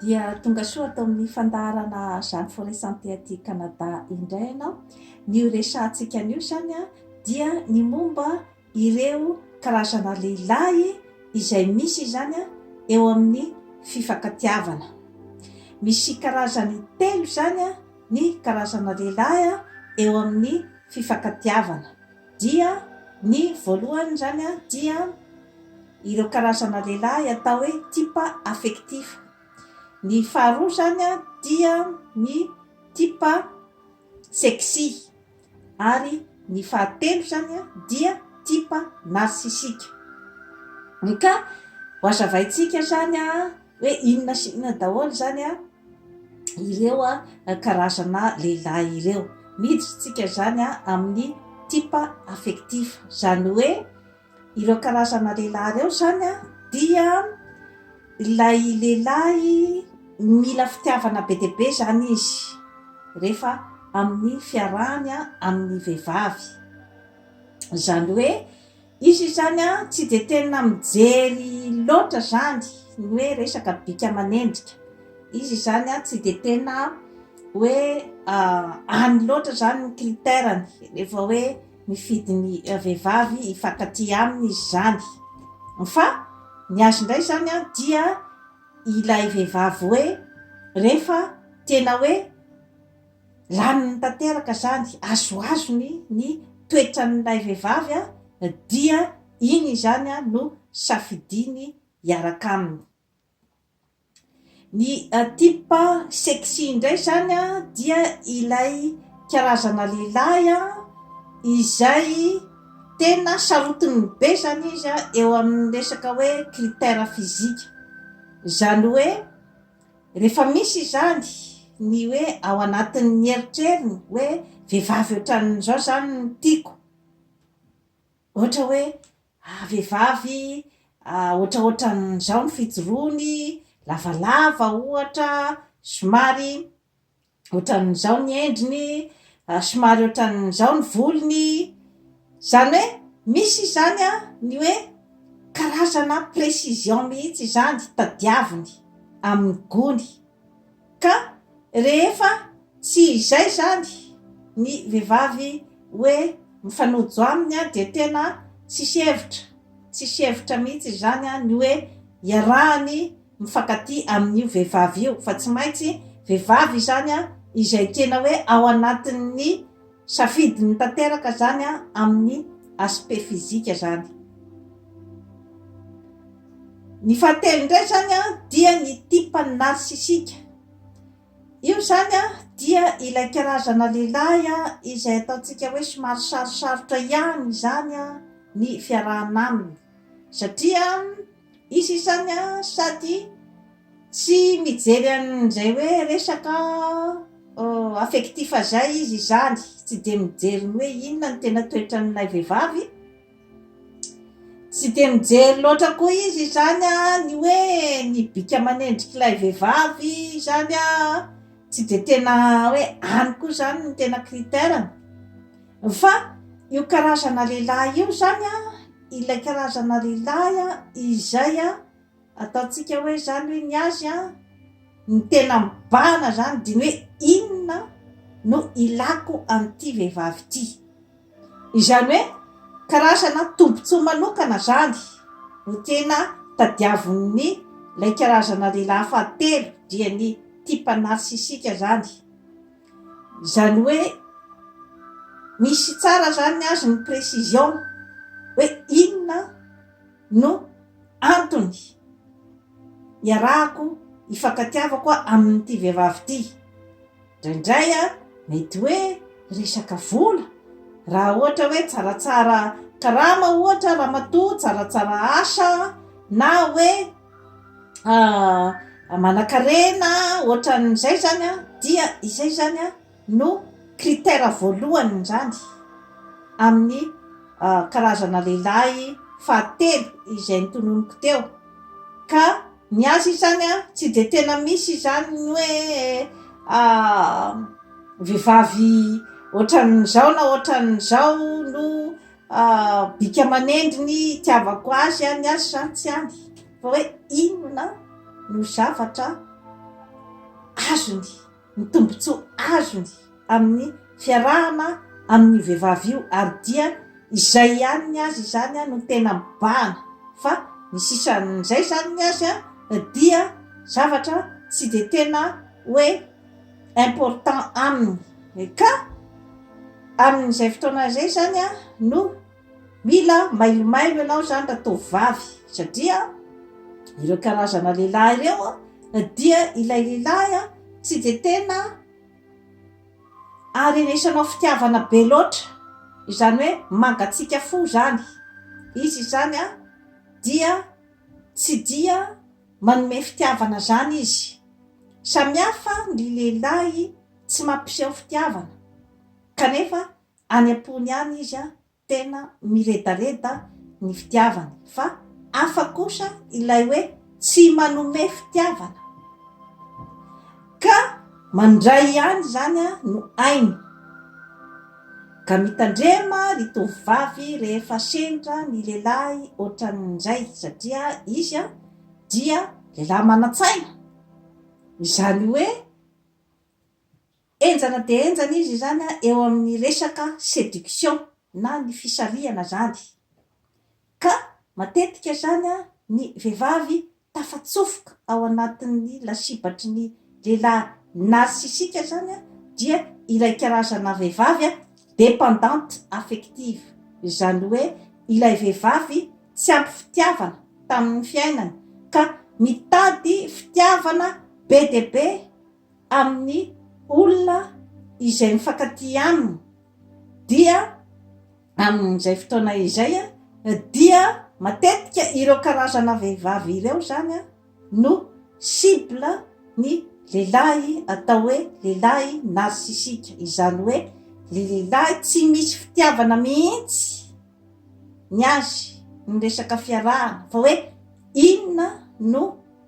Dia tonga soa ato amin'ny fandaharana Jeanne Forest Santé aty Canada indray ianao. Ny horesahantsika anio izany dia ny momba ireo karazana lehilahy izay misy izany eo amin'ny fifankatiavana. Misy karazany telo izany ny karazana lehilahy eo amin'ny fifankatiavana. Dia ny voalohany izany dia ireo karazana lehilahy atao hoe type affectif. Ny faharoa izany dia ny type sexy. Ary ny fahatelo izany dia type narcissique. Ka ho hazavaintsika izany hoe inona sy inona daholo izany an, ireo an karazana lehilahy ireo. Miditra isika izany an amin'ny type affectif, izany hoe ireo karazana lehilahy ireo izany an dia ilay lehilahy mila fitiavana be dia be izany izy rehefa amin'ny fiarahany amin'ny vehivavy, izany hoe Izy izany tsy dia tena mijery loatra izany ny hoe resaka bika aman'endrika. Izy izany tsy dia tena hoe any loatra izany ny critère-ny rehefa hoe mifidy ny vehivavy hifankatia aminy izy izany. Fa ny azy indray izany dia ilay vehivavy hoe rehefa tena hoe. Laniny tanteraka izany, azoazony ny toetran'ilay vehivavy dia iny izany no safidiny hiaraka aminy. Ny type sexy indray izany dia ilay karazana lehilahy izay tena sarotiny be izany izy eo amin'ny resaka hoe critère physique. Izany hoe. Rehefa misy izany, ny hoe ao anatin'ny eritreriny hoe vehivavy ohatran'izao izany no tiako. Ohatra hoe vehivavy ohatraohatran'izao ny fijoroany, lavalava ohatra, somary. ohatran'izao ny endriny, ary somary ohatran'izao ny volony, izany hoe misy izany ny hoe karazana précision mihitsy izany tadiaviny amin'ny gony, ka rehefa tsy izay izany ny vehivavy hoe mifanojo aminy dia tena tsisy hevitra, tsisy hevitra mihitsy izany ny hoe iarahany. mifankatia amin'io vehivavy io fa tsy maintsy vehivavy izany izay tena hoe ao anatin'ny safidiny tanteraka izany amin'ny aspect physique izany. Ny fahatelo indray izany dia ny type narcissique. Io izany dia ilay karazana lehilahy izay ataontsika hoe somary sarosarotra ihany izany ny fiarahana aminy satria Hisy izany an, sady tsy mijery an'izay hoe resaka affectif izay izy izany, tsy dia mijery ny hoe inona no tena toetran'ilay vehivavy, tsy dia mijery loatra koa izy izany an, ny hoe ny bika aman'endrik'ilay vehivavy izany an, tsy dia tena hoe any koa izany no tena critère-ny. Fa io karazana lehilahy io izany an, ilay karazana lehilahy an, izay an, ataontsika hoe izany hoe ny azy an, ny tena mibahana izany dia ny hoe inona no ilako an'ity vehivavy ity. Izany hoe karazana tombontsoa manokana izany no tena tadiavin'ny ilay karazana lehilahy fahatelo, dia ny type narcissique izany. Izany hoe misy tsara izany azy ny précision hoe inona no antony iarahako ifankatiavako amin'ity vehivavy ity. Indraindray mety hoe resaka vola, raha ohatra hoe tsaratsara karama ohatra ramatoa, tsaratsara asa na hoe. manan-karena ohatran'izay izany an, dia izay izany an no critère voalohany izany amin'ny karazana lehilahy fahatelo izay notononiko teo ka ny azy izany an tsy dia tena misy izany ny hoe vehivavy ohatran'izao na ohatran'izao no Ah, bika manendry ny itiavako azy any azy sa tsy any, fa hoe inona no zavatra azony, ny tombontsoa azony amin'ny fiarahana amin'io vehivavy io, ary dia izay ihany ny azy izany no tena mibahana, fa ny sisan'izay izany ny azy dia zavatra tsy dia tena hoe. important aminy ka amin'izay fotoana izay izany an no mila mailomailo ianao izany raha toa vavy satria ireo karazana lehilahy ireo an dia ilay lehilahy an tsy dia tena aharenesanao fitiavana be loatra izany hoe mangatsiaka fo izany izy izany an dia tsy dia Manome fitiavana zany izy. Samihafa ny lehilahy tsy mampiseho fitiavana kanefa any ampony any izy tena miredareda ny fitiavany fa hafa kosa ilay hoe tsy manome fitiavana ka mandray ihany izany no hainy. Ka mitandrema ry tovovavy rehefa sendra ny lehilahy ohatran'izay satria izy dia lehilahy manan-tsaina, izany hoe henjana dia henjana izy izany eo amin'ny resaka séduction na ny fisarihana izany, ka matetika izany ny vehivavy tafatsofoka ao anatin'ny lasibatry ny lehilahy narcissique izany dia ilay karazana vehivavy dépendante affective, izany hoe ilay vehivavy tsy ampy fitiavana tamin'ny fiainany ka mitady fitiavana be dia be amin'ny olona izay mifankatia aminy dia Amin'izay fotoana izay dia matetika ireo karazana vehivavy ireo izany no cible ny lehilahy atao hoe lehilahy narcissique, izany hoe le lehilahy tsy misy fitiavana mihitsy ny azy ny resaka fiarahana fa hoe inona no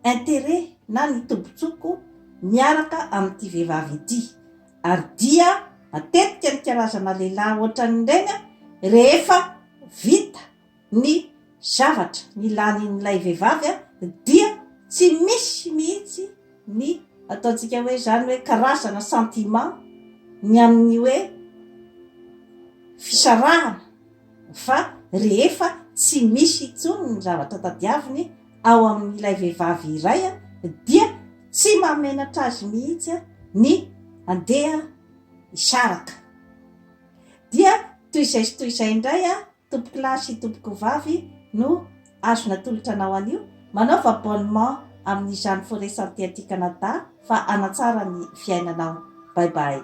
interet na ny tombontsoko miaraka amin'ity vehivavy ity. ary dia matetika ny karazana lehilahy hoatran'ireny rehefa vita ny zavatra nilanin'ilay vehivavy dia tsy misy mihitsy ny ataontsika hoe izany hoe karazana sentiment ny amin'ny hoe fisarahana fa rehefa tsy misy intsony ny zavatra tadiaviny ao amin'ilay vehivavy iray dia tsy mahamenatra azy mihitsy ny handeha hisaraka. Dia toy izay sy toy izay indray tompoko lahy sy tompoko vavy no azo natolotra anao anio. Manaova abonnement amin'izany Forêt Santé aty Canada fa hanatsara ny fiainanao. Bye bye.